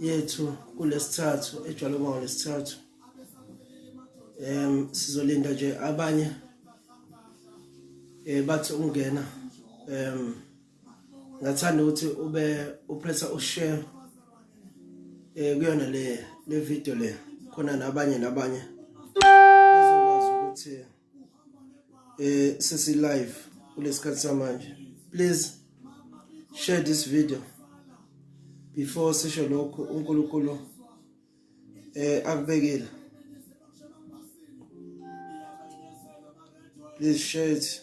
yethu kulesithathu ejwayele ukuba lesithathu em sizolinda nje abanye eh bathi ungena em ngathanda ukuthi ube upressa ushare eh kuyona le le video le khona nabanye nabanye bezokwazi ukuthi eh sisi live kulesikhathi samanje please share this video before sisho lokho uNkulunkulu eh akubekile please share it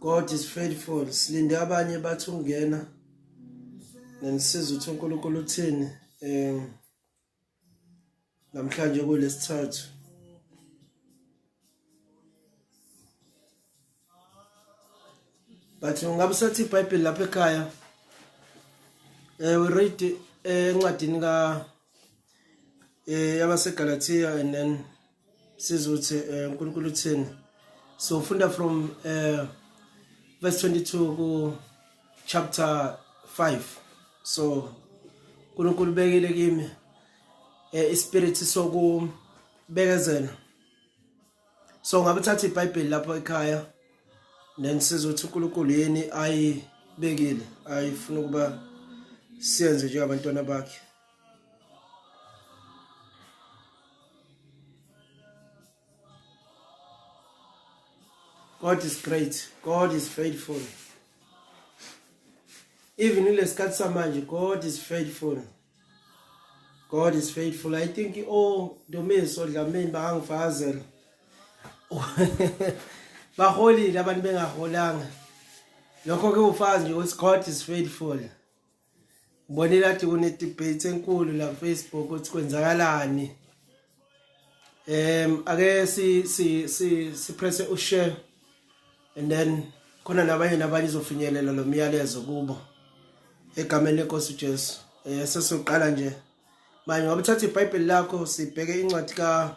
God is faithful silinde abanye bathi ungena nenisiza ukuthi uNkulunkulu uthini em namhlanje kulesithathu but ungabe usathi iBhayibheli lapha ekhaya eh we read eh, encwadini ka eh yabaseGalatia and then siza ukuthi eh, uNkulunkulu uthini so funda from eh verse 22 ku chapter 5 so uNkulunkulu bekile kimi eh ispirit soku bekezela so ngabe thatha iBhayibheli lapho ekhaya then sizothi uNkulunkulu yini ayibekile ayifuna ukuba siyenze njengabantwana bakhe God is great. God is faithful. Even in lesikhathi samanje God is faithful. God is faithful. I think oh Domiso Dlamini bangifazela. Baholile abantu bengaholanga. Lokho ke ufazi nje ukuthi God is faithful. Ngibonile kade kune debate enkulu la Facebook ukuthi kwenzakalani. Em ake si si si si press u share and then khona nabanye nabanye izofinyelela lo myalezo kubo egameni lenkosi uJesu. Eh sesiqala nje. Manje ngabuthatha iBhayibheli lakho sibheke incwadi ka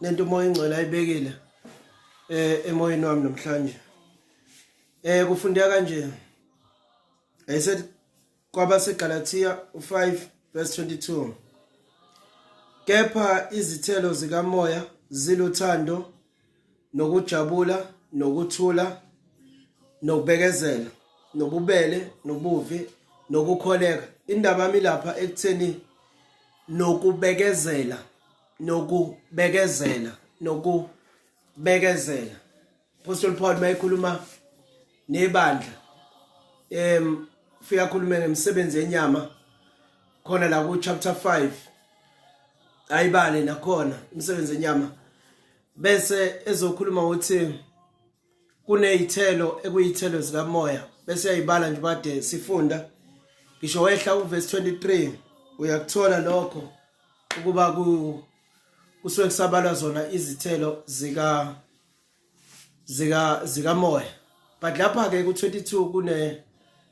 lento umoya ingcwele ayibekile eh emoyeni wami namhlanje eh kufundeka kanje i said kwabaseGalatia 5 verse 22 kepha izithelo zikamoya ziluthando nokujabula nokuthula nokubekezela nobubele nobuvi nokukholeka indaba yami lapha ekutheni nokubekezela nokubekezela nokubekezela apostle paul mayekhuluma nebandla em ufika khulume ngemisebenzi yenyama khona la ku chapter 5 ayibale nakhona imisebenzi yenyama bese ezokhuluma ukuthi kunezithelo ekuyithelo zikamoya bese yayibala nje bade sifunda ngisho wehla uverse 23 uyakuthola lokho ukuba ku kusuke kusabalwa zona izithelo zika zika zikamoya but lapha ke ku22 kune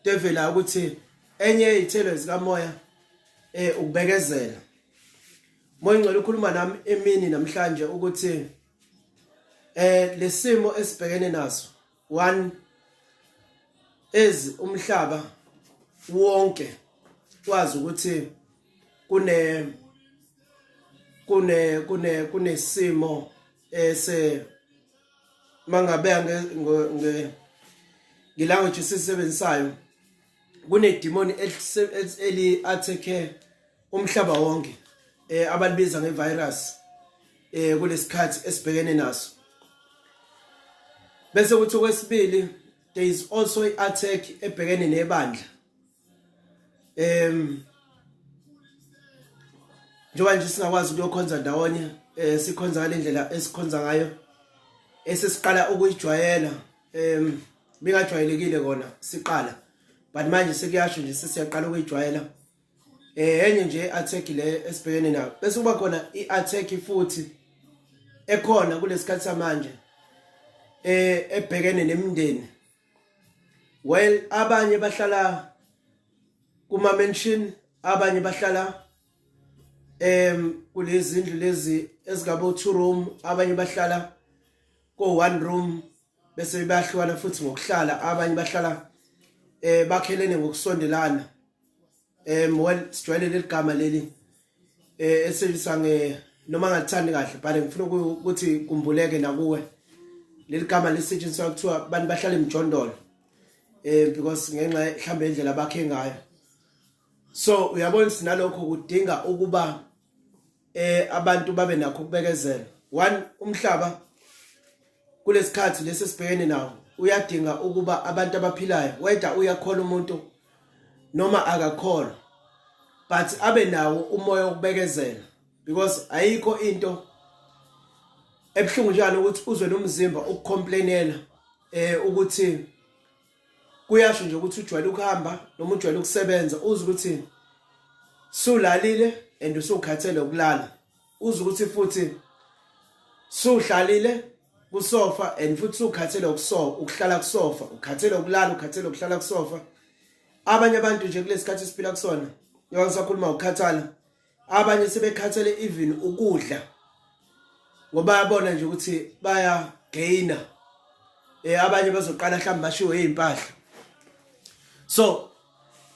devela ukuthi enye izithelo zikamoya eh ukubekezela moya ngcela ukhuluma nami emini namhlanje ukuthi eh lesimo esibhekene naso one is umhlaba wonke wazi ukuthi kune kune kune kunesimo ese mangabe nge nge ngilanguage esisebenzisayo kunedimoni eli attack umhlaba wonke eh abalibiza ngevirus eh kulesikhathi esibhekene naso bese kuthi okwesibili there is also i-attack ebhekene nebandla em njengoba nje singakwazi ukuyokhonza ndawonye eh sikhonza ngalendlela esikhonza ngayo esesiqala ukuyijwayela em bingajwayelekile kona siqala but manje sekuyasho nje sesiyaqala ukuyijwayela eh enye nje attack le esibhekene nayo bese kuba khona iattack futhi ekhona kulesikhathi samanje eh ebhekene nemindeni while abanye bahlala kuma mansion abanye bahlala em kulezi ndlu lezi ezigabo two room abanye bahlala ko one room bese bayahlukana futhi ngokuhlala abanye bahlala eh bakhelene ngokusondelana um well sijwayele leli gama leli um eh, elisebenziswa nge noma ngalithandi kahle but ngifuna ukuthi kumbuleke nakuwe leli gama lisetshenziswa kuthiwa abantu bahlala emjondolo um because ngenxa mhlawumbe indlela bakhe ngayo so uyabona sinalokho kudinga ukuba eh abantu babe nakho ukubekezela one umhlaba kulesikhathi lesi sibhekene nawo uyadinga ukuba abantu abaphilayo whether uyakhola umuntu noma akakholwa but abe nawo umoya wokubekezela because ayikho into ebuhlungu njalo ukuthi uzwe nomzimba ukucomplainela eh ukuthi kuyasho nje ukuthi ujwayele ukuhamba noma ujwayele ukusebenza uze ukuthi sulalile and usukhathele ukulala uze ukuthi futhi suhlalile kusofa and futhi sukhathele ukusofa ukuhlala kusofa ukhathele ukulala ukhathele ukuhlala kusofa abanye abantu nje kulesikhathi siphila kusona njengoba ngisakhuluma ukukhathala abanye sebekhathele even ukudla ngoba yabona nje ukuthi baya gaina eh abanye bazoqala mhlawumbe bashiwe izimpahla so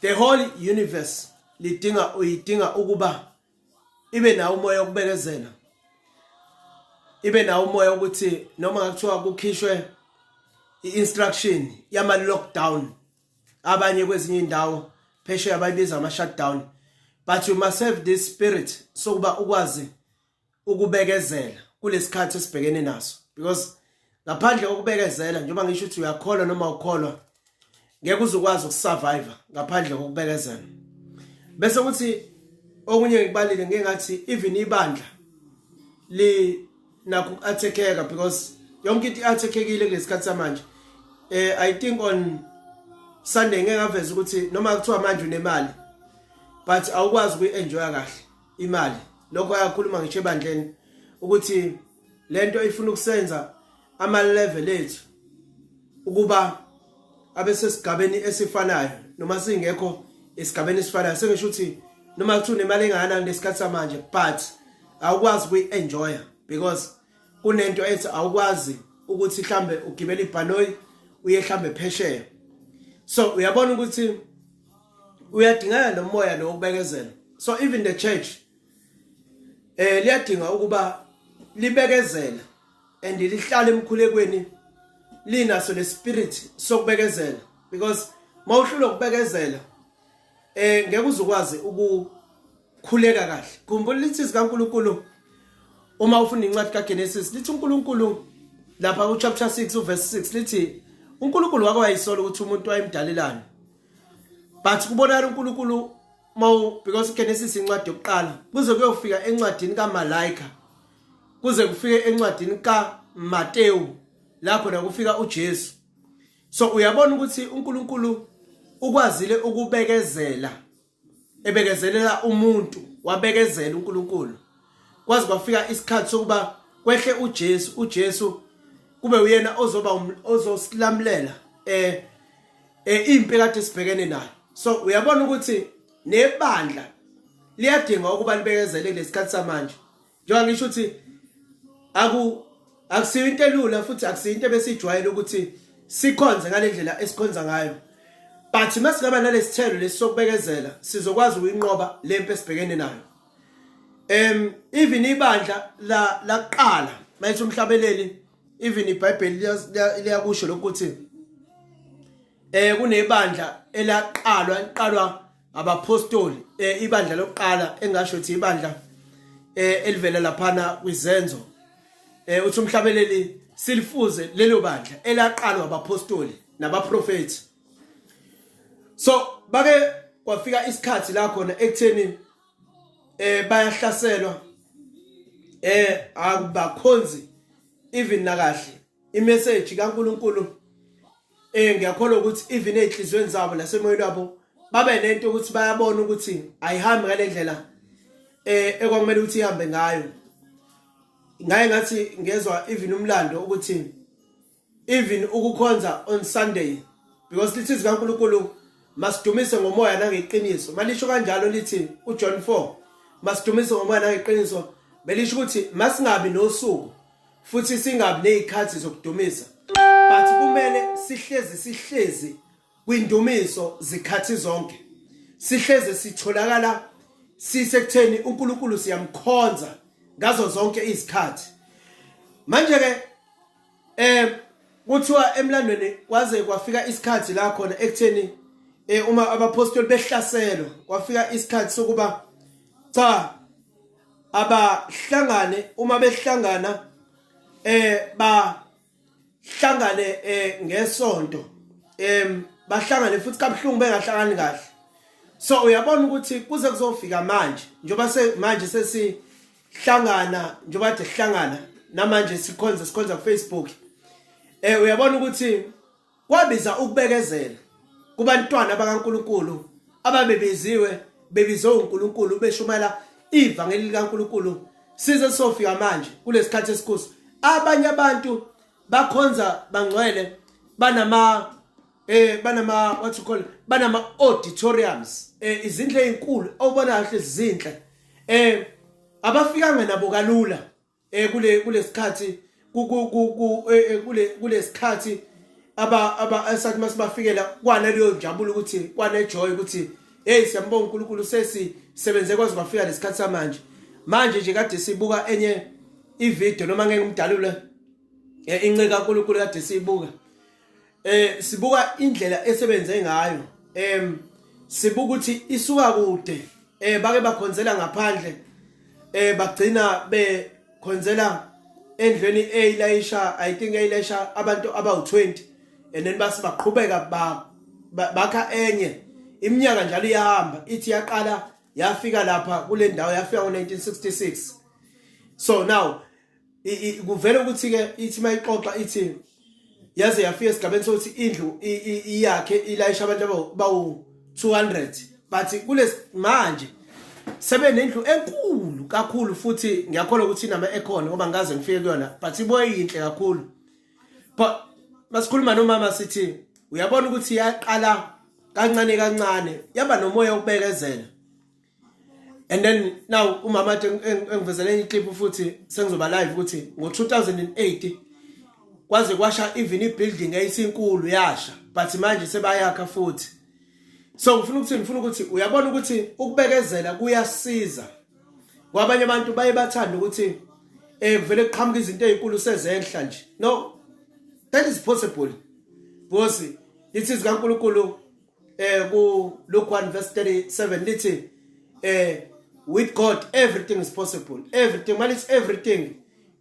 the whole universe lidinga uyidinga ukuba ibe nawo umoya wokubekezela ibe nawo umoya ukuthi noma kuthiwa kukhishwe i-instruction yama-lockdown abanye kwezinye indawo phesheya bayibiza ama shutdown but you must have this spirit sokuba ukwazi ukubekezela kulesikhathi esibhekene naso because ngaphandle kokubekezela njengoba ngisho ukuthi uyakholwa noma ukholwa ngeke uzokwazi ukusurvive ngaphandle kokubekezela bese kuthi okunye ngikubalile ngengathi even ibandla li nakho uku-athekeka because yonke into i-athekekile kulesikhathi samanje eh i think on sunday ngeke ngaveza ukuthi noma kuthiwa manje unemali but awukwazi ukuyi-enjoya kahle imali lokho ayakhuluma ngisho ebandleni ukuthi lento ifuna ukusenza ama-level ethu ukuba abesesigabeni esifanayo noma singekho esigabeni esifanayo sengisho ukuthi noma kuthiwa unemali engakanani lesikhathi samanje but awukwazi kuyi-enjoya because kunento ethi awukwazi ukuthi mhlambe ugibela ibhanoyi uye mhlambe phesheya so uyabona ukuthi uyadingeka nomoya lo ukubekezela so even the church eh liyadinga ukuba libekezela and lihlala emkhulekweni linaso le spirit sokubekezela because mawuhlula ukubekezela eh ngeke uzokwazi ukukhuleka kahle khumbula lithi sikaNkuluNkulu uma ufunda incwadi kaGenesis lithi uNkulunkulu lapha ku chapter 6 uverse 6 lithi uNkulunkulu wake wayisola ukuthi umuntu wayemdalelani but kubonakala uNkulunkulu mawu because uGenesis incwadi yokuqala kuze kuyofika encwadini kaMalaika kuze kufike encwadini kaMatewu la khona kufika uJesu so uyabona ukuthi uNkulunkulu ukwazile ukubekezela ebekezelela umuntu wabekezela uNkulunkulu kwaze kwafika isikhathi sokuba kwehle uJesu uJesu kube uyena ozoba um, ozosilamulela eh, eh impi kade sibhekene nayo so uyabona ukuthi nebandla liyadinga ukuba libekezele lesikhathi samanje njengoba ngisho ukuthi aku akusiyo into elula futhi akusiyo into ebesijwayele ukuthi sikhonze ngale ndlela esikhonza ngayo but uma singaba nalesithelo lesisokubekezela sizokwazi ukuyinqoba le mpi esibhekene nayo um even ibandla laqala mayithi umhlabeleli even ibhayibheli liyakusho lokuthi eh kunebandla elaqalwa liqalwa abaphostoli eh ibandla lokuqala engasho ukuthi ibandla eh elivela laphana kwizenzo eh uthi umhlabeleli silifuze lelo bandla elaqalwa abaphostoli nabaprofeti so bake kwafika isikhathi la khona ekutheni eh bayahlaselwa eh akubakhonzi even nakahle imessage kaNkuluNkulu eh ngiyakholwa ukuthi even ezinhlizweni zabo nasemoyeni wabo babe nento ukuthi bayabona ukuthi ayihambi ngalendlela eh ekwakumele ukuthi ihambe ngayo ngaye ngathi ngezwa even umlando ukuthi even ukukhonza on Sunday because lithi zikaNkuluNkulu masidumise ngomoya nangeqiniso malisho kanjalo lithi uJohn 4 masidumise ngomoya nangeqiniso belisho ukuthi masingabi nosuku futhi singabi nezikhathi zokudumisa but kumele sihlezi sihlezi kwindumiso zikhathi zonke sihleze sitholakala sisekutheni uNkulunkulu siyamkhonza ngazo zonke izikhathi manje ke eh kuthiwa emlandweni kwaze kwafika isikhathi la khona ekutheni eh uma abapostoli behlaselwa kwafika isikhathi sokuba cha abahlangane uma behlangana eh ba hlangane eh ngesonto em bahlangane futhi kabuhlungu bengahlangani kahle so uyabona ukuthi kuze kuzofika manje njoba se manje sesihlangana njoba de sihlangana namanje sikhonza sikhonza ku Facebook eh uyabona ukuthi Kwabiza ukubekezela kubantwana bakaNkulunkulu ababebiziwe bebizwe uNkulunkulu beshumayela ivangeli likaNkulunkulu size sofika manje kulesikhathi esikhusi abanye abantu bakhonza bangcwele banama eh banama what you call banama auditoriums eh izindle ezinkulu obona kahle izinhle eh abafikanga nabo kalula eh kule kulesikhathi eh, kule kulesikhathi aba aba esathi masibafikela kwana leyo njabulo ukuthi kwana joy ukuthi hey siyambonga uNkulunkulu sesi sebenze kwaze bafika lesikhathi samanje manje nje kade sibuka enye ivideo noma ngeke ngimdalule eh, inceka uNkulunkulu kade siyibuka eh sibuka indlela esebenze ngayo em sibuka ukuthi isuka kude eh bake bakhonzela ngaphandle eh bagcina be khonzela endlweni eyilayisha i think eyilayisha abantu abawu20 and then base baqhubeka ba bakha enye iminyaka njalo iyahamba ithi yaqala yafika lapha kule ndawo yafika ngo1966 so now kuvele ukuthi ke ithi mayixoxa ithi yaze yafika esigabeni sokuthi indlu iyakhe ilayisha abantu abawu 200 bathi kulesi manje sebenendlu enkulu kakhulu futhi ngiyakholwa ukuthi inama ekhona ngoba ngikaze ngifike kuyona but ibuye yinhle kakhulu but masikhuluma nomama sithi uyabona ukuthi yaqala kancane kancane yaba nomoya ukubekezela and then now umama athi engivezele enye iclip futhi sengizoba live ukuthi ngo-2008 kwaze kwasha even ibuilding eyisinkulu yasha but manje sebayakha futhi so ngifuna ukuthi ngifuna ukuthi uyabona ukuthi ukubekezela kuyasiza kwabanye abantu baye bathanda ukuthi eh kuvele kuqhamuka izinto ezinkulu sezenhla nje no that is possible because lithi zikaNkuluNkulu eh ku Luke 1 verse 37 lithi eh with God everything is possible everything manje it's everything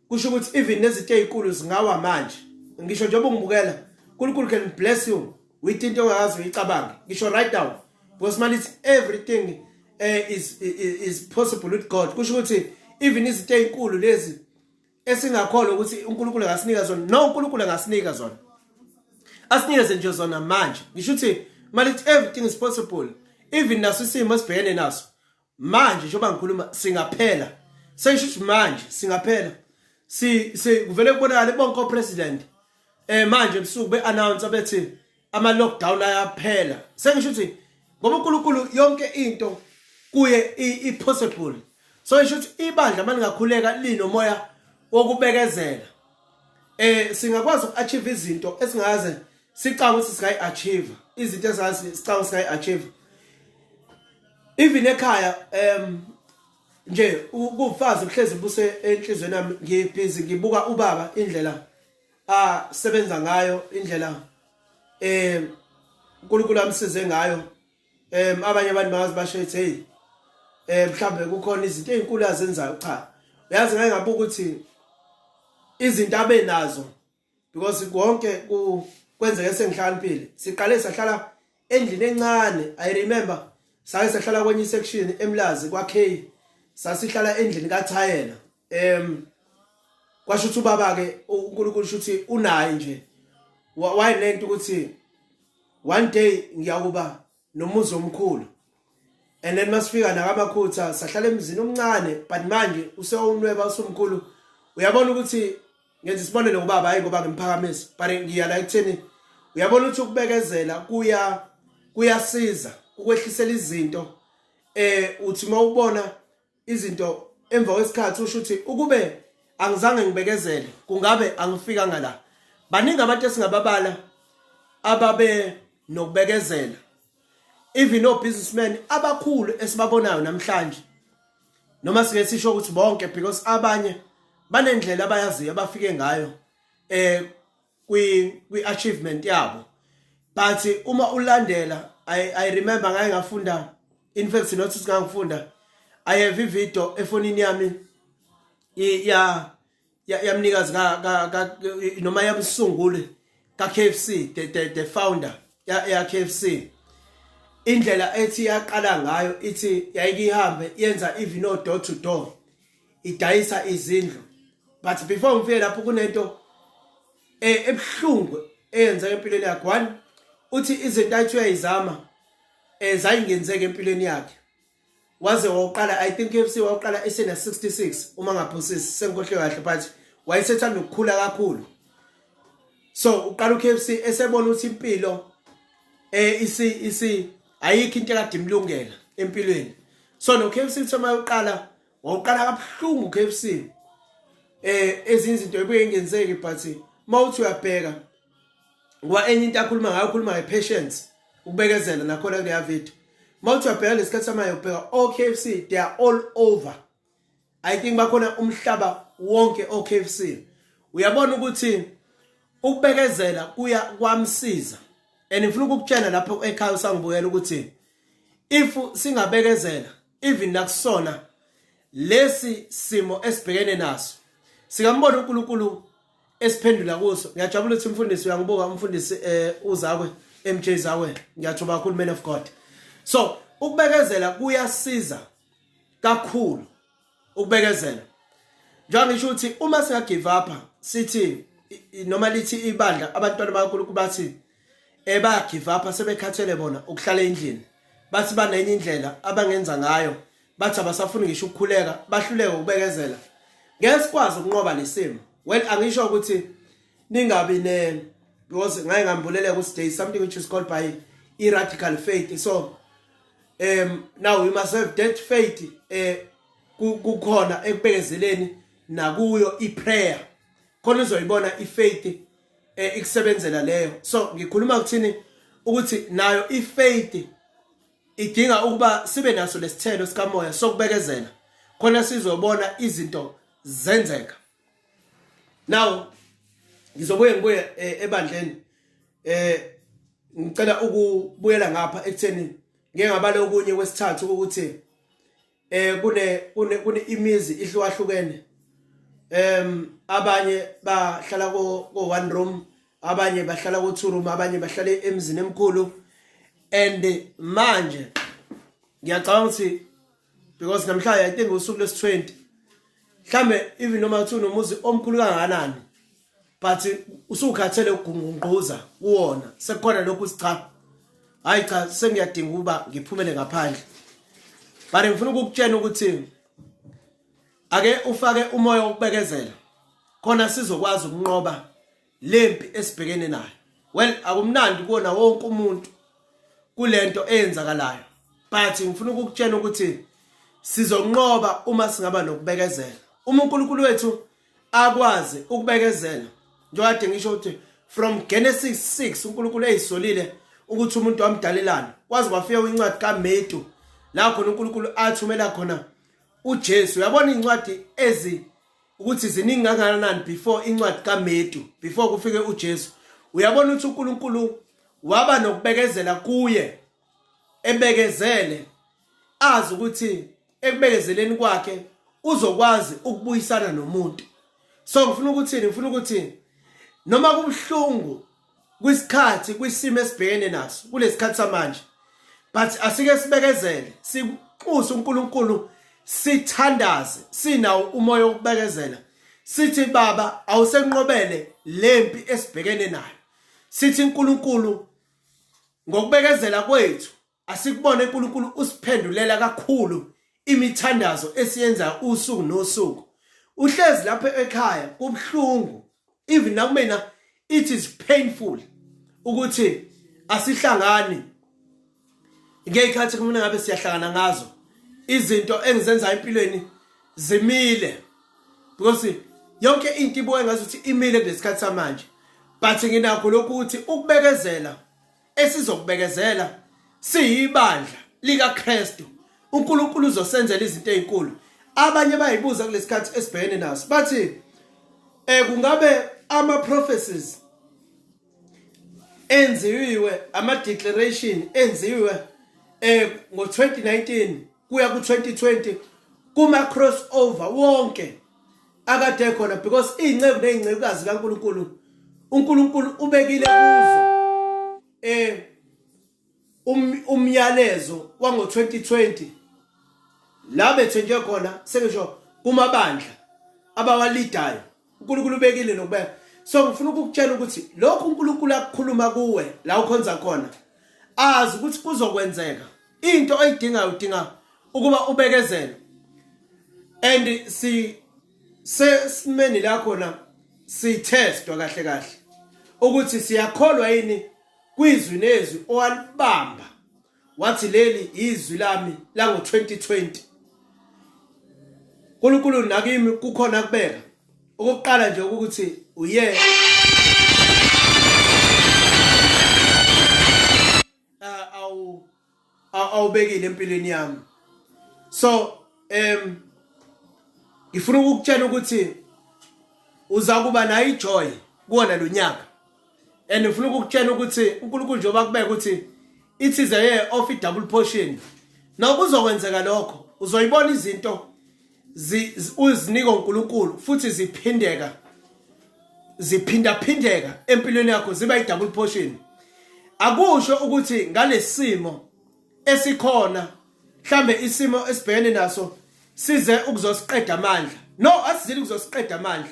kusho ukuthi even nezinto ezinkulu zingawa manje ngisho njengoba ungibukela uNkulunkulu can bless you with into ongazi uyicabange ngisho right now because manje it's everything eh is, is is possible with God kusho ukuthi even izinto ezinkulu lezi esingakholwa ukuthi uNkulunkulu angasinika zona no uNkulunkulu angasinika zona asinikeze nje zona manje ngisho ukuthi malithi everything is possible even naso isimo esibhekene naso manje njengoba ngikhuluma singaphela sesho ukuthi manje singaphela si kuvele kubonakale bonke opresident eh manje ebusuku beannounce bethi ama lockdown ayaphela sengisho ukuthi ngoba uNkulunkulu yonke into kuye i possible so isho ukuthi ibandla malingakhuleka linomoya wokubekezela eh singakwazi uku-achieve izinto esingaze sicanga ukuthi singayi-achieve izinto ezazi sicanga singayi-achieve even ekhaya um nje kufazi kuhlezi buse enhlizweni yami ngibhizi ngibuka ubaba indlela asebenza ngayo indlela eh uNkulunkulu amsize ngayo em abanye abantu bazi basho ethi hey eh mhlambe kukhona izinto ezinkulu azenzayo cha uyazi ngeke ngabuka ukuthi izinto abenazo because konke ku kwenzeke sengihlakaniphile siqale sahlala endlini encane i remember sake sahlala kwenye section emlazi kwa K sasihlala endlini ka Thayela em kwasho ukuthi ubaba ke uNkulunkulu shuthi unaye nje wayelento ukuthi one day ngiyakuba nomuzi omkhulu and then masifika nakamakhutha sahlala emzini omncane but manje usewunweba usumkhulu uyabona ukuthi ngenza isibonelo ngobaba hayi ngoba ngimphakamisa but ngiya la ekutheni uyabona ukuthi ukubekezela kuya kuyasiza ukwehlisela izinto eh uthi mawubona izinto emva kwesikhathi usho ukuthi ukube angizange ngibekezele kungabe angifikanga la baningi abantu esingababala ababe nokubekezela even o businessmen abakhulu esibabonayo namhlanje noma sike sisho ukuthi bonke because abanye banendlela abayaziyo abafike ngayo eh kwi kwi achievement yabo but uma ulandela i i remember ngaye ngafunda in fact sinothi singangifunda i have a video efonini yami ya yamnikazi ka ka noma yamsunguli ka KFC the the, the founder ya ya KFC indlela ethi yaqala ngayo ithi yayike ihambe yenza even no door to door idayisa izindlu but before ngifike lapho kunento eh, ebuhlungu eyenzeka empilweni yakhe one uthi izinto athi uyayizama eh zayingenzeka empilweni yakhe waze waqala i think FC waqala esena 66 uma ngaphosisi senkohle kahle but wayesethanda ukukhula kakhulu so uqala uKFC esebona ukuthi impilo eh isi isi ayikho into ekade imlungela empilweni so no KFC thoma uqala wawuqala kabuhlungu uKFC eh ezinye izinto ebuye ngenzeki but mawuthi uyabheka ngoba enye into akhuluma ngayo ukhuluma nge-patience ukubekezela nakhona kuleya video mawuthi uyabheka lesikhathi samaye ubheka o-KFC they are all over i think bakhona umhlaba wonke o-KFC uyabona ukuthi ukubekezela kuya kwamsiza and ngifuna ukukutshela lapho ekhaya usangibuyela ukuthi if singabekezela even nakusona lesi simo esibhekene naso sikambona uNkulunkulu esiphendula kuso ngiyajabula ukuthi umfundisi uyangibuka umfundisi eh uzakwe MJ Zawe ngiyathoba kakhulu man of God so ukubekezela kuyasiza kakhulu ukubekezela njengoba ngisho ukuthi uma singa give up sithi noma lithi ibandla abantwana bakaNkulunkulu bathi eba give up sebekhathele bona ukuhlala endlini bathi banenye indlela abangenza ngayo bathi abasafuni ngisho ukukhuleka bahluleke ukubekezela ngeke sikwazi ukunqoba lesimo well angisho ukuthi ningabi ne because ngaye ngambuleleka ukuthi there is something which is called by iradical faith so um now we must have that faith eh kukhona ekubekezeleni nakuyo iprayer khona uzoyibona ifaith eh, ikusebenzela leyo so ngikhuluma kuthini ukuthi nayo ifaith idinga ukuba sibe naso lesithelo sikamoya sokubekezela khona sizobona izinto zenzeka now ngizobuye ngibuye eh, ebandleni eh ngicela ukubuyela ngapha ekutheni ngeke ngabale okunye kwesithathu ukuthi eh kune kune kune imizi ihlukahlukene em abanye bahlala ko ko one room abanye bahlala ko two room abanye bahlala emzini emkhulu and manje ngiyacabanga ukuthi because namhlanje i think usuku lesi 20 mhlambe even noma kuthi unomuzi omkhulu kangakanani but usukhathele ukungqungquza kuwona sekukhona lokhu sicha hayi cha sengiyadinga ukuba ngiphumele ngaphandle but ngifuna ukukutshena ukuthi ake ufake umoya wokubekezela khona sizokwazi ukunqoba lempi esibhekene nayo well akumnandi kuona wonke umuntu kulento eyenzakalayo but ngifuna ukukutshena ukuthi sizonqoba uma singaba nokubekezela uma uNkulunkulu wethu akwazi ukubekezela njengade ngisho ukuthi from Genesis 6 uNkulunkulu eyisolile ukuthi umuntu wamdalelana kwaze kwafika incwadi kaMetu la khona uNkulunkulu athumela khona uJesu uyabona incwadi ezi ukuthi ziningi kangakanani before incwadi kaMetu before kufike uJesu uyabona ukuthi uNkulunkulu waba nokubekezela kuye ebekezele azi ukuthi ekubekezeleni kwakhe uzokwazi ukubuyisana nomuntu so ngifuna ukuthini ngifuna ukuthi noma kubuhlungu kwisikhathi kwisimo esibhekene naso kulesikhathi samanje but asike sibekezele sikuxuse uNkulunkulu sithandaze sinawo umoya wokubekezela sithi baba awusenqobele lempi esibhekene nayo sithi uNkulunkulu Ngokubekezela kwethu asikubone uNkulunkulu usiphendulela kakhulu imithandazo esiyenzayo usuku nosuku. Uhlezi lapha ekhaya kubuhlungu even nakumina it is painful ukuthi asihlangani ngeyikhathi kumina ngabe siyahlangana ngazo izinto engizenza empilweni zimile because yonke into ibuka ngathi uthi imile ngesikhathi samanje but nginakho lokhu ukuthi ukubekezela esizokubekezela siyibandla likaKristu uNkulunkulu uzosenzela izinto ezinkulu abanye bayibuza kulesikhathi esibhekene naso bathi eh kungabe ama prophecies enziwe ama declaration enziwe eh ngo 2019 kuya ku-2020 kuma-crossover wonke akade ekhona because iy'nceku ney'ncekukazi kankulunkulu unkulunkulu ubekile kuzo um um umyalezo wango-2020 la bethenjwe khona sengisho kumabandla abawalidayo uNkulunkulu ubekile nokubeka so ngifuna ukukutshela ukuthi lokhu uNkulunkulu akukhuluma kuwe la ukhonza khona azi ukuthi kuzokwenzeka into oyidingayo udinga ukuba ubekezele and si sesimeni la khona sithestwa kahle kahle ukuthi siyakholwa yini kwizwi nezwi owalibamba wathi leli izwi lami lango 2020 uNkulunkulu nakimi kukhona kubeka okokuqala nje ukuthi uye ah, awu awubekile empilweni yami so em ngifuna ukukutshela ukuthi uza kuba nayo ijoy kuwona lonyaka and ngifuna ukukutshela ukuthi uNkulunkulu njengoba kubeka ukuthi it is a year of double portion noma uzokwenzeka lokho uzoyibona izinto uzinika uNkulunkulu futhi ziphindeka ziphindaphindeka empilweni yakho ziba i-double portion akusho ukuthi ngalesimo esikhona mhlambe isimo esibhekene naso size ukuzosiqeda amandla no asizile ukuzosiqeda amandla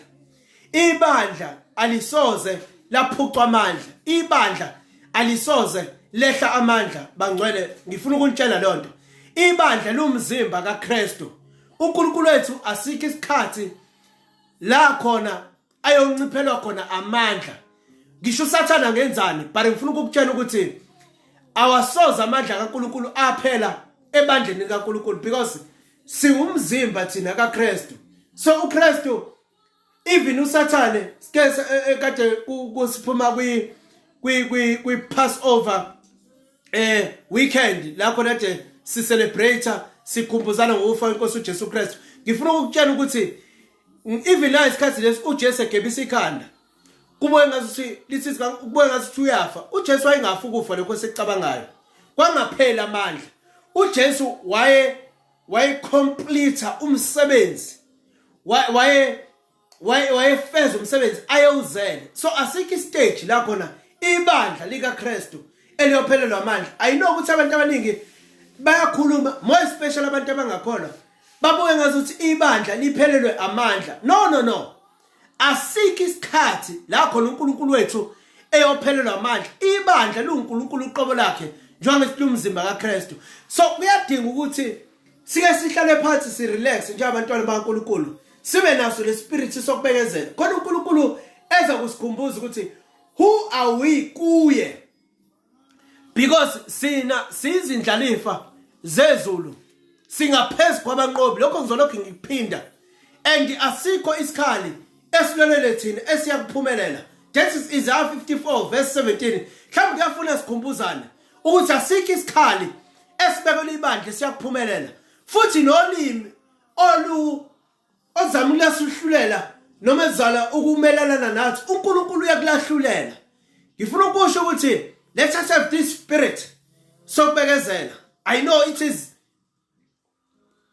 ibandla alisoze laphucwa amandla ibandla alisoze lehla amandla bangcwele ngifuna ukunitshela lonto ibandla lumzimba kaKristu uNkulunkulu wethu asikho isikhathi la khona ayonciphelwa khona amandla ngisho usathana ngenzani but ngifuna ukukutshela ukuthi awasoza amandla kaNkuluNkulu aphela ebandleni likaNkuluNkulu because siwumzimba thina kaKristu so uKristu even usathane sike e, e, kade kusiphuma kwi kwi kwi Passover eh weekend la khona nje si celebrate sikhumbuzana ngokufa kwenkosi uJesu Kristu ngifuna ukukutshela ukuthi even la isikhathi lesi uJesu egebisa ikhanda kubuye ngathi lithi kubuye ngathi uyafa uJesu wayengafa ukufa lokho sekucabangayo kwangaphela amandla uJesu waye wayecomplete umsebenzi waye wayefeza umsebenzi ayewuzele so asikho istage la khona ibandla likaKristu eliyophelelwa amandla ayinokuthi abantu abaningi bayakhuluma more special abantu abangakholwa babuke ngazuthi ibandla liphelelwe amandla no no no asiki isikhathi la khona uNkulunkulu wethu eyophelelwa amandla ibandla liwuNkulunkulu uqobo lakhe njengoba silumzimba kaKristu so kuyadinga ukuthi sike sihlale phansi si relax njengabantwana baNkulunkulu sibe naso lespirit sokubekezela khona uNkulunkulu eza kusikhumbuza ukuthi who are we kuye because sina sizindlalifa zezulu singaphezulu kwabanqobi lokho ngizolokhu ngikuphinda and asikho isikhali esilwelele thina esiyakuphumelela that is Isaiah 54 verse 17 mhlawumbe kuyafuna sikhumbuzane ukuthi asikho isikhali esibekelwe ibandla siyakuphumelela futhi nolimi olu ozama ukulasuhlulela noma ezala ukumelalana nathi uNkulunkulu uyakulahlulela ngifuna ukusho ukuthi let us have this spirit sokubekezela i know it is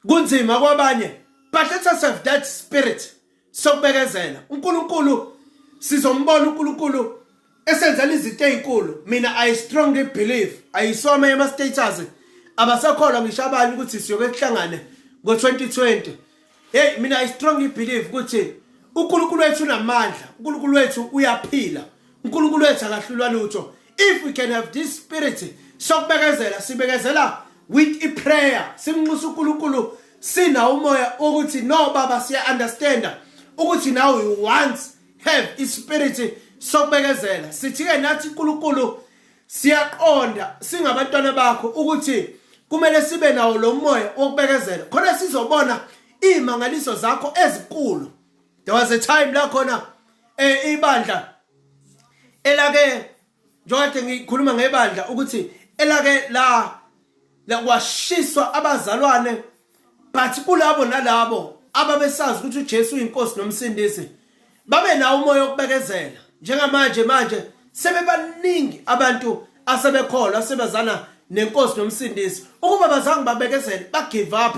kunzima kwabanye but let us have that spirit sokubekezela uNkulunkulu sizombona uNkulunkulu esenzela izinto ezinkulu mina i strongly believe ayisome ema status abasakholwa ngisho abanye ukuthi siyoke kuhlangane ngo-2020 hey mina i strongly believe ukuthi uNkulunkulu wethu unamandla uNkulunkulu wethu uyaphila uNkulunkulu wethu akahlulwa lutho if we can have this spirit sokubekezela sibekezela with iprayer simnxusa uNkulunkulu sina umoya ukuthi no baba siya understand ukuthi now you once have ispirit sokubekezela sithi ke nathi uNkulunkulu siyaqonda singabantwana bakho ukuthi kumele sibe nawo lo moya wokubekezela khona sizobona imangaliso zakho ezikulu there was a time la khona eh ibandla elake njengokade ngikhuluma ngebandla ukuthi elake la lakwashiswa abazalwane but kulabo nalabo ababesazi ukuthi uJesu uyinkosi nomsindisi babe nawo umoya wokubekezela njengamanje manje sebebaningi abantu asebekholwa sebazana nenkosi nomsindisi ukuba bazange babekezele bagive up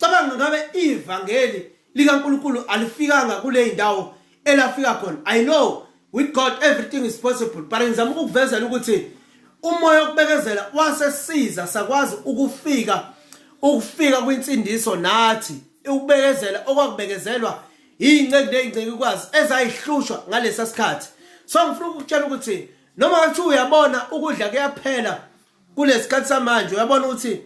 cabanga ngabe ivangeli likaNkuluNkulu alifikanga kule ndawo elafika khona i know with god everything is possible but ngizama ukukuvezela ukuthi umoya wokubekezela wasesiza sakwazi ukufika ukufika kwinsindiso nathi ukubekezela okwakubekezelwa iy'nceku ney'ncekukwazi ezayihlushwa ngalesa sikhathi so ngifuna ukukutshela ukuthi noma kuthiwa uyabona ukudla kuyaphela kulesikhathi samanje uyabona ukuthi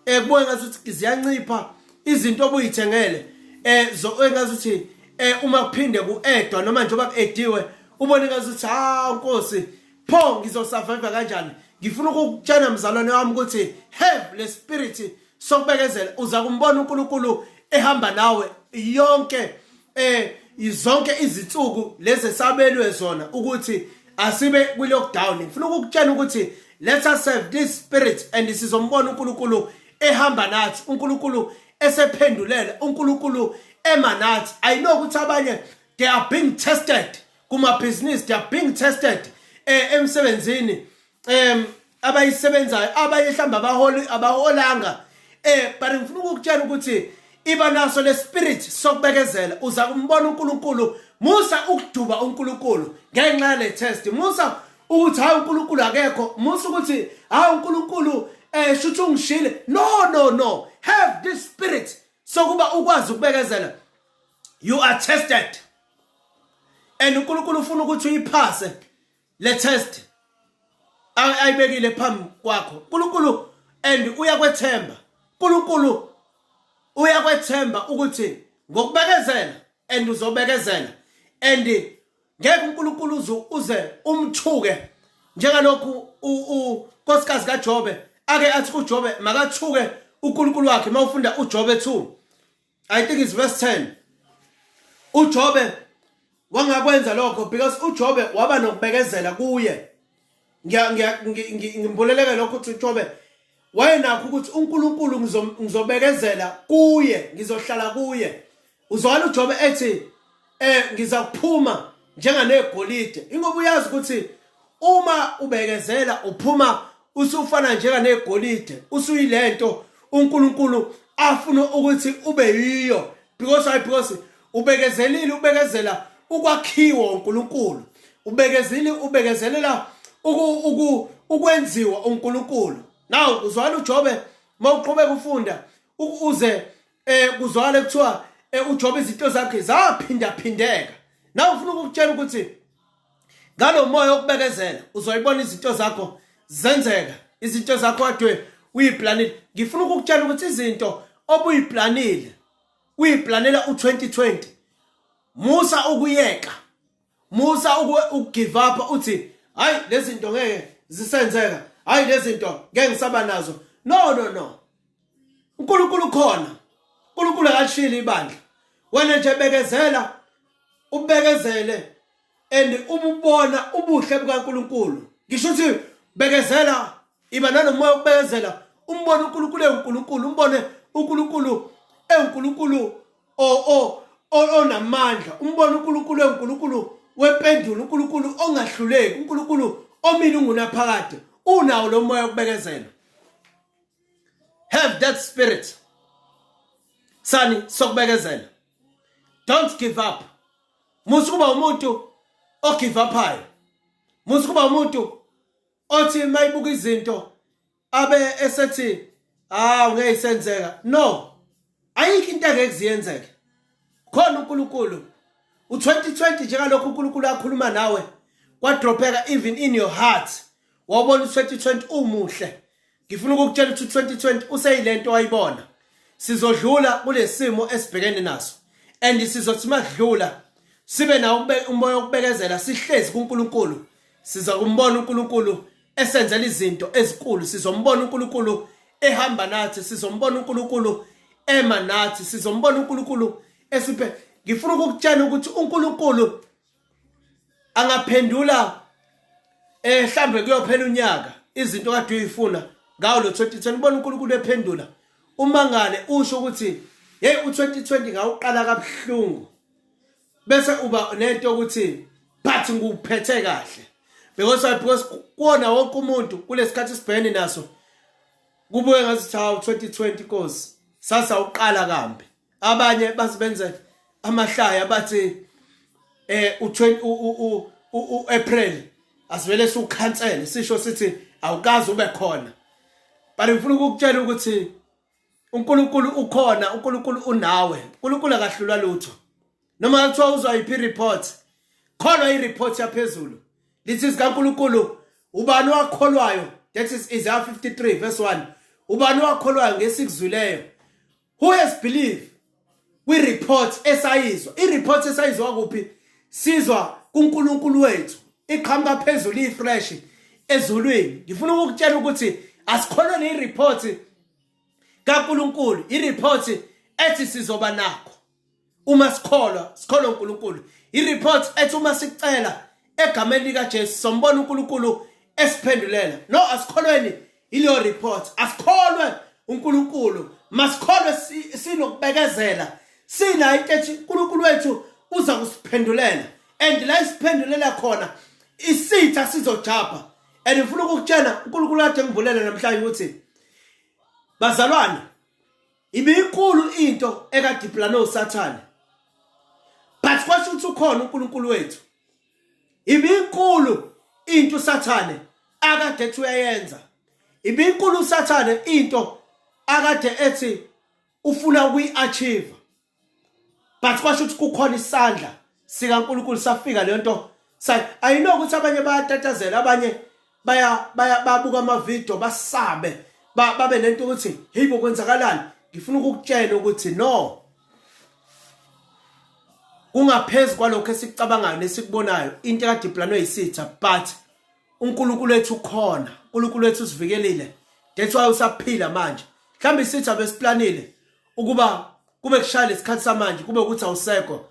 eh kuboye ngathi ukuthi ziyancipha izinto obuyithengele eh zo engathi ukuthi eh uma kuphinde kuedwa noma nje bakuediwe ubone ngathi ukuthi ha nkosi pho ngizosurvive kanjani ngifuna ukukutshena mzalwane wami ukuthi have le spirit sokubekezela uza kumbona uNkulunkulu ehamba nawe yonke eh izonke izinsuku lezi esabelwe zona ukuthi asibe kwi lockdown ngifuna ukukutshela ukuthi let us serve this spirit and sizombona uNkulunkulu ehamba nathi uNkulunkulu esephendulela uNkulunkulu ema nathi i know ukuthi abanye they are being tested kuma business they are being tested eh emsebenzini em abayisebenzayo abanye mhlawumbe abaholi abaholanga eh but ngifuna ukukutshela ukuthi iba naso le spirit sokubekezela uza kumbona uNkulunkulu musa ukuduba uNkulunkulu ngenxa yale test musa ukuthi hayi uNkulunkulu akekho musa ukuthi hayi uNkulunkulu eh shuthi ungishile no no no have this spirit sokuba ukwazi ukubekezela you are tested and uNkulunkulu ufuna ukuthi uyiphase le test ayibekile phambi kwakho uNkulunkulu and uyakwethemba uNkulunkulu uyakwethemba ukuthi ngokubekezela and uzobekezela and ngeke uNkulunkulu uzu uze umthuke njengalokhu unkosikazi kaJobe ake athi kuJobe makathuke uNkulunkulu wakhe mawufunda uJobe 2 I think it's verse 10. UJobe wangakwenza lokho because uJobe waba nokubekezela kuye. Ngiya ngiya ngimbuleleke lokho ukuthi uJobe wayenakho ukuthi uNkulunkulu ngizobekezela kuye, ngizohlala kuye. Uzwala uJobe ethi eh ngiza kuphuma njenganegolide ingoba uyazi ukuthi uma ubekezela uphuma usufana njenganegolide usuyilento uNkulunkulu afuna ukuthi ube yiyo because why because ubekezelile ubekezela ukwakhiwa uNkulunkulu ubekezile ubekezelela ukwenziwa uNkulunkulu now uzwana uJobe mawuqhubeka ufunda ukuze eh kuzwakala kuthiwa eh, uJobe izinto zakhe zaphinda phindeka nawe ufuna ukukutshela ukuthi ngalomoya okubekezela uzoyibona izinto zakho zenzeka izinto zakho adwe uyiplanile ngifuna ukukutshela ukuthi izinto obuyiplanile uyiplanela u2020 musa ukuyeka musa ukugive up uthi hayi lezi zinto ngeke zisenzeka hayi lezi zinto ngeke ngisaba nazo no no no uNkulunkulu ukhona uNkulunkulu akashili ibandla wena nje bekezela ubekezele and ububona ubuhle bukaNkulunkulu ngisho ukuthi bekezela iba nanomoya ukubekezela umbone uNkulunkulu ewuNkulunkulu umbone uNkulunkulu ewuNkulunkulu onamandla umbona uNkulunkulu uNkulunkulu wempendulo uNkulunkulu ongahluleki uNkulunkulu omile ungunaphakade unawo lo moya wokubekezela have that spirit sani sokubekezela don't give up musu kuba umuntu ogive uphayo musu kuba umuntu othi mayibuka izinto abe esethi ah ngeke isenzeka no ayikho into engeke ziyenzeke khona uNkulunkulu u2020 njengalokho uNkulunkulu akhuluma nawe kwadropeka even in your heart wabona u2020 umuhle ngifuna ukukutshela ukuthi u2020 useyilento wayibona sizodlula kulesimo esibhekene naso and sizothi makudlula sibe nawo umoya wokubekezela sihlezi kuNkulunkulu siza kumbona uNkulunkulu esenzela izinto ezinkulu sizombona uNkulunkulu ehamba nathi sizombona uNkulunkulu ema nathi sizombona uNkulunkulu esiphe ngifuna ukukutshela ukuthi uNkulunkulu angaphendula eh mhlambe kuyophela unyaka izinto kade uyifuna ngawo lo 2020 ubona uNkulunkulu ephendula umangale usho ukuthi hey u2020 ngawuqala kabuhlungu bese uba nento ukuthi but ngikuphethe kahle because I because kuona wonke umuntu kulesikhathi sibhene naso kubuye ngathi cha 2020 cause sasa uqala kambi abanye basibenze amahlaya bathi eh u u April asivele siwukhansele sisho sithi awukazi ube khona but ngifuna ukukutshela ukuthi uNkulunkulu ukhona uNkulunkulu unawe uNkulunkulu akahlulwa lutho noma kuthiwa uzwa yiphi report kholwa ireport yaphezulu lithi zikaNkulunkulu ubani wakholwayo that is Isaiah 53 verse 1 ubani wakholwayo ngesikuzwileyo who has believed kwi-report esayizwa i-report esayizwa kuphi sizwa kuNkulunkulu wethu iqhamuka phezulu ifresh ezulwini ngifuna ukukutshela ukuthi asikholwe ne-report kaNkulunkulu i-report ethi sizoba nakho uma sikholwa sikholwa uNkulunkulu i-report ethi uma sicela egameni likaJesu sombona uNkulunkulu esiphendulela no asikholweni Ileyo report asikholwe uNkulunkulu masikholwe sinokubekezela sinayo into ethi uNkulunkulu wethu uza kusiphendulela and la isiphendulela khona isitha sizojabha and ngifuna ukukutshela uNkulunkulu wakhe engivulele namhlanje ukuthi bazalwane ibiyinkulu into ekadipulane usathane but kwasho ukuthi ukhona uNkulunkulu wethu Ibinkulu into uSathane akade ethi uyayenza. Ibinkulu uSathane into akade ethi ufuna ukuyi-achieve. But kwasho ukuthi kukhona isandla sikaNkulunkulu safika lento ayinokuthi abanye bayatatazela abanye baya baya babuka ama video basabe babe nento ukuthi hey bo kwenzakalani ngifuna ukukutshela ukuthi no kungaphezulu kwalokho esikucabangayo nesikubonayo into ekade iplanwe yisitha but uNkulunkulu wethu ukhona uNkulunkulu wethu usivikelile that's why usaphila manje mhlawumbe isitha besiplanile ukuba kube kushaya lesikhathi samanje kube ukuthi awusekho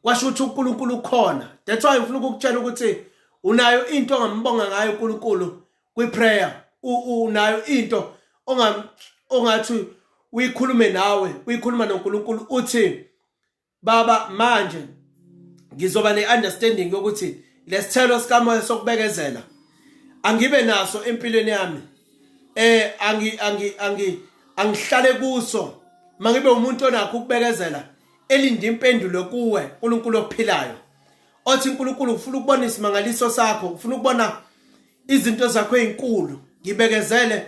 kwasho ukuthi uNkulunkulu ukhona that's why ngifuna ukukutshela ukuthi unayo into ongambonga ngayo uNkulunkulu kwi prayer unayo into ongam ongathi uyikhulume nawe uyikhuluma noNkulunkulu uthi baba manje ngizoba neunderstanding yokuthi lesithelo sikamoya sokubekezela angibe naso empilweni yami eh angi angi angi angihlale kuso mangibe umuntu onakho ukubekezela elinde impendulo kuwe uNkulunkulu ophilayo othi uNkulunkulu ufuna ukubona isimangaliso sakho ufuna ukubona izinto zakho ezinkulu ngibekezele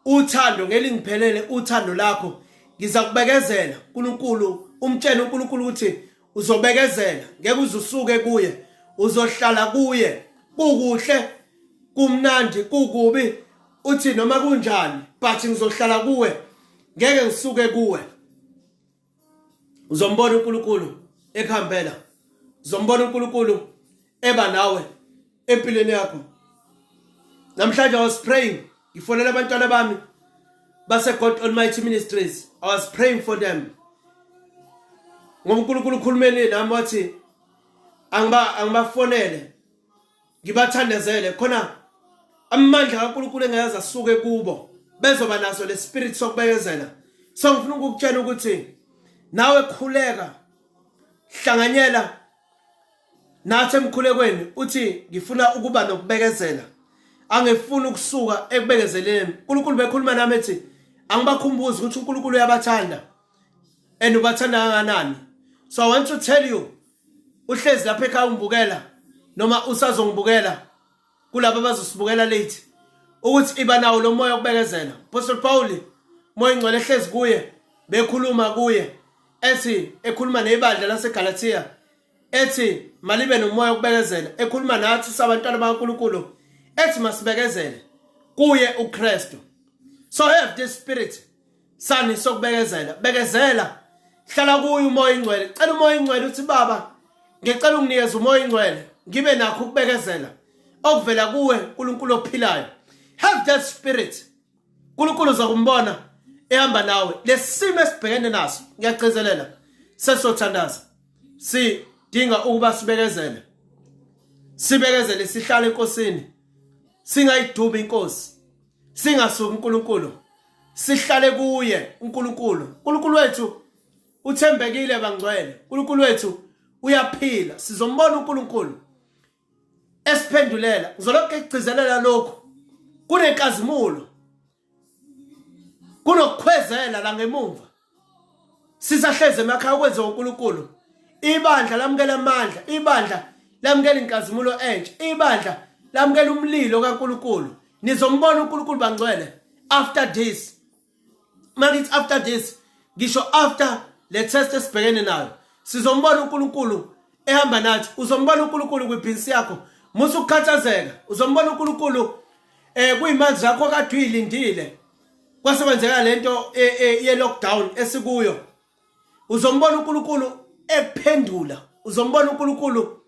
uthando ngelingiphelele uthando lakho ngiza kubekezela uNkulunkulu umtshele uNkulunkulu ukuthi uzobekezela ngeke uzusuke kuye uzohlala kuye kukuhle kumnandi kukubi uthi noma kunjani but ngizohlala kuwe ngeke ngisuke kuwe uzombona uNkulunkulu ekhambela uzombona uNkulunkulu eba nawe empilweni yakho namhlanje i was praying ngifonela abantwana bami base God Almighty Ministries i was praying for them ngoba uNkulunkulu ukhulumeni nami wathi angiba angibafonele ngibathandezele khona amandla kaNkulunkulu engeza suke kubo bezoba naso le spirit sokubekezela so ngifuna ukukutshela ukuthi nawe khuleka hlanganyela nathi emkhulekweni uthi ngifuna ukuba nokubekezela angifuni ukusuka ekubekezeleni uNkulunkulu bekhuluma nami ethi angibakhumbuzi ukuthi uNkulunkulu uyabathanda and ubathanda kanganani so i want to tell you uhlezi lapha ekhaya ungibukela noma usazongibukela kulabo abazosibukela late ukuthi iba nawo lo moya okubekezela apostle pawuli moya ingcwele ehlezi kuye bekhuluma kuye ethi ekhuluma nebandla lasegalatiya ethi malibe nomoya okubekezela ekhuluma nathi sabantwana bakaNkuluNkulu ethi masibekezele kuye uKristu so have this spirit sani sokubekezela bekezela hlala kuyo umoya ingcwele cela umoya ingcwele uthi baba ngicela unginikeze umoya ingcwele ngibe nakho ukubekezela okuvela kuwe uNkulunkulu ophilayo have that spirit uNkulunkulu uzokumbona ehamba nawe lesimo esibhekene naso ngiyagcizelela sesothandaza sidinga ukuba sibekezele sibekezele sihlale enkosini singayidubi inkosi singasuki uNkulunkulu sihlale kuye uNkulunkulu uNkulunkulu wethu uthembekile bangcwele uNkulunkulu wethu uyaphila sizombona uNkulunkulu esiphendulela ngizolokhu egcizelela lokhu kunenkazimulo kunokukhwezela la ngemumva sisahleze emakhaya kwenze uNkulunkulu ibandla lamukela amandla ibandla lamukela inkazimulo entsha ibandla lamukela umlilo kaNkulunkulu nizombona uNkulunkulu bangcwele after this makithi after this ngisho after le test esibhekene nayo sizombona uNkulunkulu ehamba nathi uzombona uNkulunkulu kwibhinsi yakho musa ukukhathazeka uzombona uNkulunkulu eh kuyimanje zakho kade uyilindile kwase kwenzeka lento e, e, ye lockdown esikuyo uzombona uNkulunkulu ekuphendula uzombona uNkulunkulu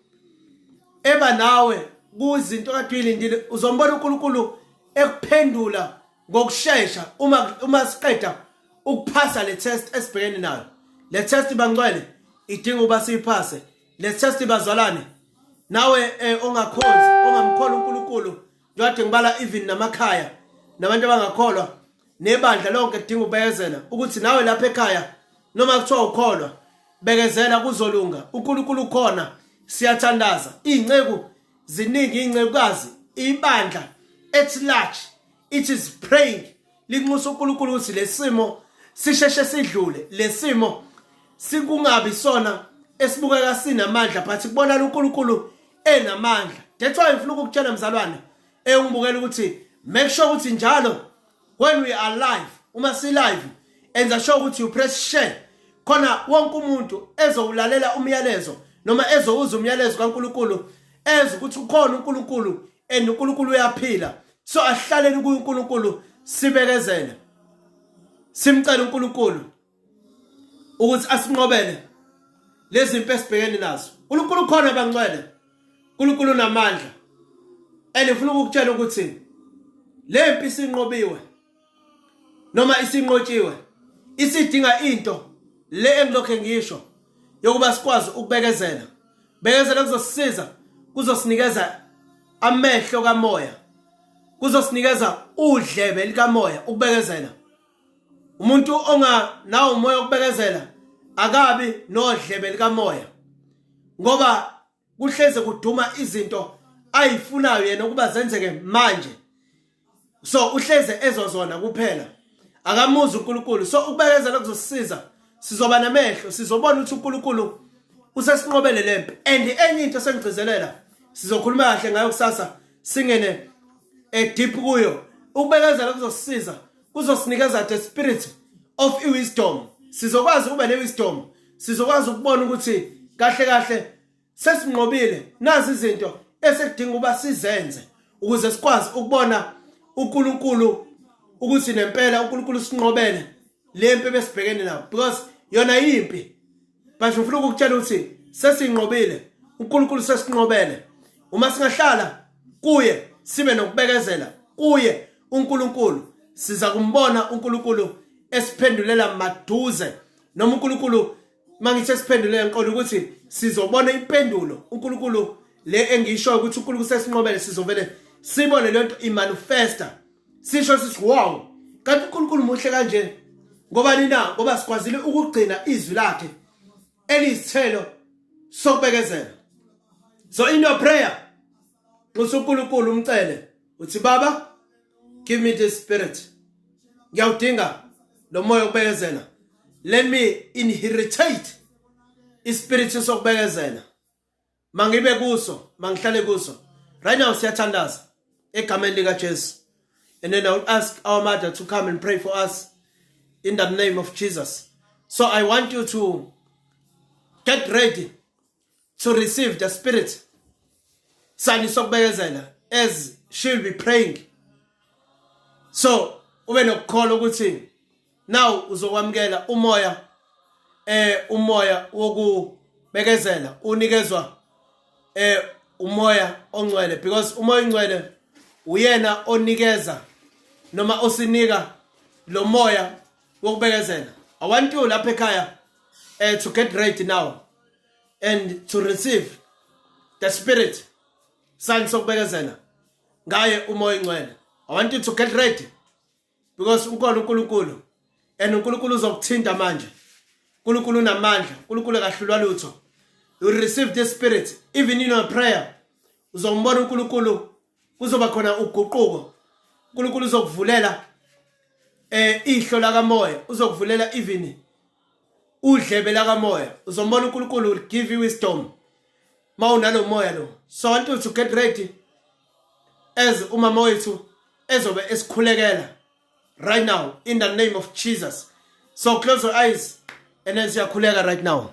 eba nawe kuzinto kade uyilindile uzombona uNkulunkulu ekuphendula ngokusheshsha uma uma siqeda ukuphasa le test esibhekene nayo le test bangcwele idinga uba siyiphase le test bazalwane nawe eh, ongakhonzi ongamkhona uNkulunkulu Kade ngibala even namakhaya nabantu abangakholwa nebandla lonke kudinga ubekezela ukuthi nawe lapha ekhaya noma kuthiwa ukholwa bekezela kuzolunga uNkulunkulu ukhona siyathandaza izinceku ziningi izincekukazi ibandla at large it is praying linxusa uNkulunkulu ukuthi lesimo sisheshe sidlule lesimo sikungabi sona esibukeka sinamandla but kubonana uNkulunkulu enamandla that's why ngifuna ukukutshela mzalwane engibukela ukuthi make sure ukuthi njalo when we are live uma si live enza sure ukuthi you press share khona wonke umuntu ezowulalela umyalezo noma ezowuza umyalezo kaNkuluNkulu eze ukuthi ukhona uNkuluNkulu and uNkuluNkulu uyaphila so asihlaleni kuyo uNkulunkulu sibekezele simcela uNkulunkulu ukuthi asinqobele lezi mpe sibhekene nazo uNkulunkulu khona bancwele uNkulunkulu namandla and ngifuna ukukutshela ukuthi le mpi sinqobiwe noma isinqotshiwe isidinga into le engilokhe ngisho yokuba sikwazi ukubekezela bekezela kuzosisiza kuzosinikeza amehlo kamoya kuzosinikeza udlebe likamoya ukubekezela umuntu onga nawo umoya ukubekezela akabi nodlebe likamoya ngoba kuhleze kuduma izinto ayifunayo yena ukuba zenzeke manje so uhleze ezozona kuphela akamuzi uNkulunkulu so ukubekezela kuzosisiza sizoba namehlo sizobona ukuthi uNkulunkulu usesinqobele lempi and enye into sengigcizelela sizokhuluma kahle ngayo kusasa singene edeep eh, kuyo ukubekezela kuzosisiza kuzosinikeza the spirit of wisdom sizokwazi ukuba ne wisdom sizokwazi ukubona ukuthi kahle kahle sesinqobile nazi izinto esekudinga uba sizenze ukuze sikwazi ukubona uNkulunkulu ukuthi nempela uNkulunkulu sinqobele lempi besibhekene nayo because yona yimpi but ngifuna ukukutshela ukuthi sesinqobile uNkulunkulu sesinqobele uma singahlala kuye sibe nokubekezela kuye uNkulunkulu siza kumbona uNkulunkulu esiphendulela maduze noma uNkulunkulu mangithe siphendule ngiqonda ukuthi sizobona impendulo uNkulunkulu le engisho ukuthi uNkulunkulu sesinqobele sizovele sibone le nto imanifesta sisho sithi wow kanti uNkulunkulu muhle kanje ngoba nina ngoba sikwazile ukugcina izwi lakhe elizithelo sokubekezela so in your prayer nxusa uNkulunkulu umcele uthi baba give me this spirit ngiyawudinga lo moya okubekezela let me inheritate ispirit sokubekezela mangibe kuso mangihlale kuso right now siyathandaza egameni lika Jesu and then i will ask our mother to come and pray for us in the name of Jesus so i want you to get ready to receive the spirit sani sokubekezela as she will be praying so ube nokukholwa ukuthi now uzokwamukela umoya eh umoya wokubekezela unikezwa eh umoya ongcwele because umoya ongcwele uyena onikeza noma osinika lo moya wokubekezela i want you lapha ekhaya uh, to get ready now and to receive the spirit sign sokubekezela ngaye umoya ingcwele i want you to get ready because ukhona uNkulunkulu and uNkulunkulu uzokuthinta manje uNkulunkulu unamandla uNkulunkulu akahlulwa lutho you receive this spirit even in your prayer uzombona uNkulunkulu kuzoba khona uguquko uNkulunkulu uzokuvulela eh ihlo lakamoya uzokuvulela even udlebe lakamoya uzombona uNkulunkulu will give you wisdom mawunalomoya lo so want you to get ready as umama wethu ezobe esikhulekela right now in the name of jesus so close your eyes and then siyakhuleka right now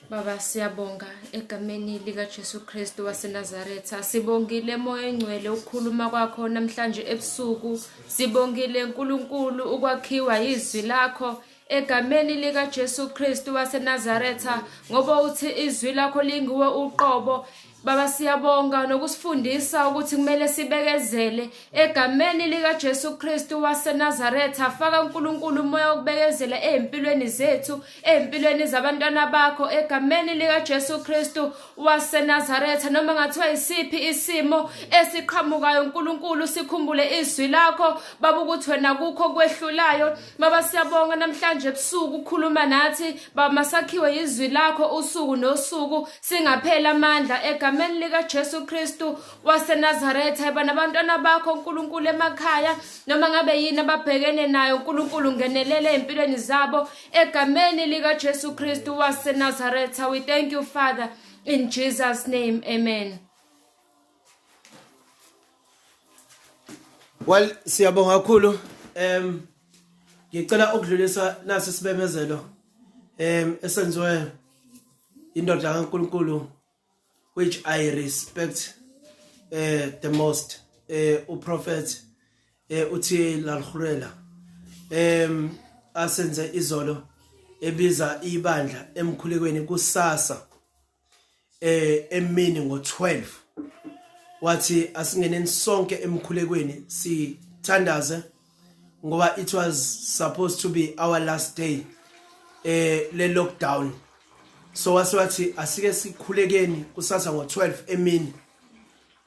Baba siyabonga egameni lika Jesu Kristu waseNazaretha sibongile moya engcwele ukukhuluma kwakho namhlanje ebusuku sibongile uNkulunkulu ukwakhiwa izwi lakho egameni likaJesu Kristu waseNazaretha ngoba uthi izwi lakho linguwe uqobo Baba siyabonga nokusifundisa ukuthi kumele sibekezele egameni lika Jesu Kristu waseNazaretha faka uNkulunkulu umoya wokubekezela ezimpilweni zethu ezimpilweni zabantwana bakho egameni lika Jesu Kristu waseNazaretha noma ngathiwa yisiphi isimo esiqhamukayo uNkulunkulu sikhumbule izwi lakho baba ukuthi wena kukho kwehlulayo baba siyabonga namhlanje ebusuku ukhuluma nathi baba masakhiwe yizwi lakho usuku nosuku singaphela amandla egameni lika Jesu Kristu waseNazaretha yaba nabantwana bakho uNkulunkulu emakhaya noma ngabe yini ababhekene nayo uNkulunkulu ngenelele empilweni zabo Egameni lika Jesu Kristu wase Nazareth, we thank you Father in Jesus name. Amen. Well, siyabonga kakhulu. Em ngicela ukudlulisa nasi sibemezelo em esenziwe indoda kaNkuluNkulu which i respect uh, the most uh, eh, uprofet uh, eh, uthi lalhurela um asenze izolo ebiza ibandla emkhulekweni kusasa eh emini ngo12 wathi asingeneni sonke emkhulekweni sithandaze ngoba it was supposed to be our last day eh le lockdown so wase wathi asike sikhulekeni kusasa ngo12 emini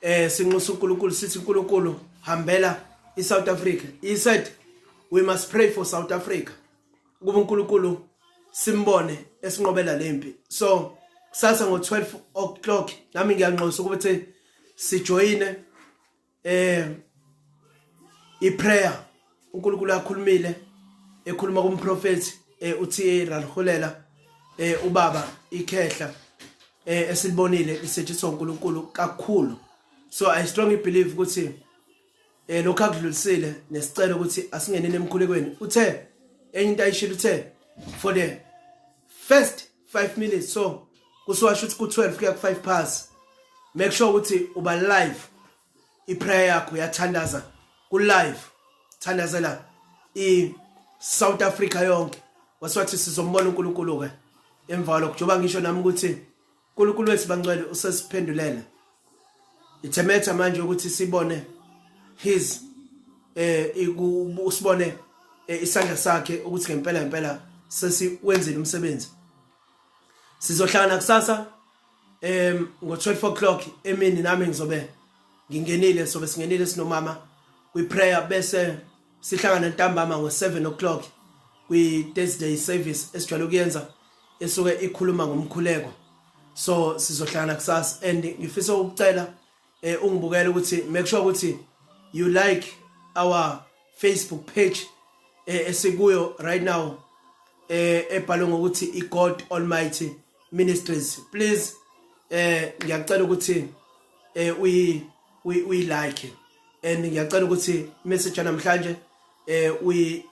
eh sinxusa uNkulunkulu sithi uNkulunkulu hambela iSouth Africa he said we must pray for South Africa kuba uNkulunkulu simbone esinqobela lempi so kusasa ngo12 o'clock nami ngiyanxosa ukuthi sijoyine eh iprayer uNkulunkulu akhulumile ekhuluma kumprofeti eh uThe Ralhulela eh ubaba ikhehla eh esilibonile lisetshenziswa uNkulunkulu kakhulu so i strongly believe ukuthi eh lokho akudlulisile nesicelo ukuthi asingeneni emkhulekweni uthe enye into ayishilo uthe for the first 5 minutes so kusiwasho ukuthi ku-12 kuya ku-5 pass make sure ukuthi uba live iprayer yakho yathandaza ku-live thandazela i-south africa yonke wasiwathi sizombona unkulunkulu-ke emva kwalokho njengoba ngisho nami ukuthi unkulunkulu wethu bangcwele usesiphendulela it's a matter manje ukuthi sibone his eh ikusibone eh, isandla sakhe ukuthi ngempela ngempela sesiwenzile umsebenzi sizohlangana kusasa em ngo 12 o'clock emini nami ngizobe ngingenile sobe singenile sinomama we prayer bese Sihlangana ntambama ngo-7 o'clock kwi-Thursday service esijwayele ukuyenza esuke ikhuluma ngomkhuleko so sizohlangana kusasa and ngifisa ukucela eh ungibukele ukuthi make sure ukuthi you like our Facebook page eh esikuyo right now eh ebhalwe ngokuthi iGod Almighty Ministries please eh ngiyacela ukuthi eh uyi uyi like and ngiyacela ukuthi message namhlanje eh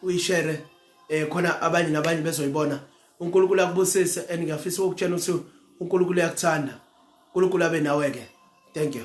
uyishare eh khona abanye nabanye bezoyibona uNkulunkulu akubusise and ngiyafisa ukutshela ukuthi uNkulunkulu uyakuthanda uNkulunkulu abe nawe ke thank you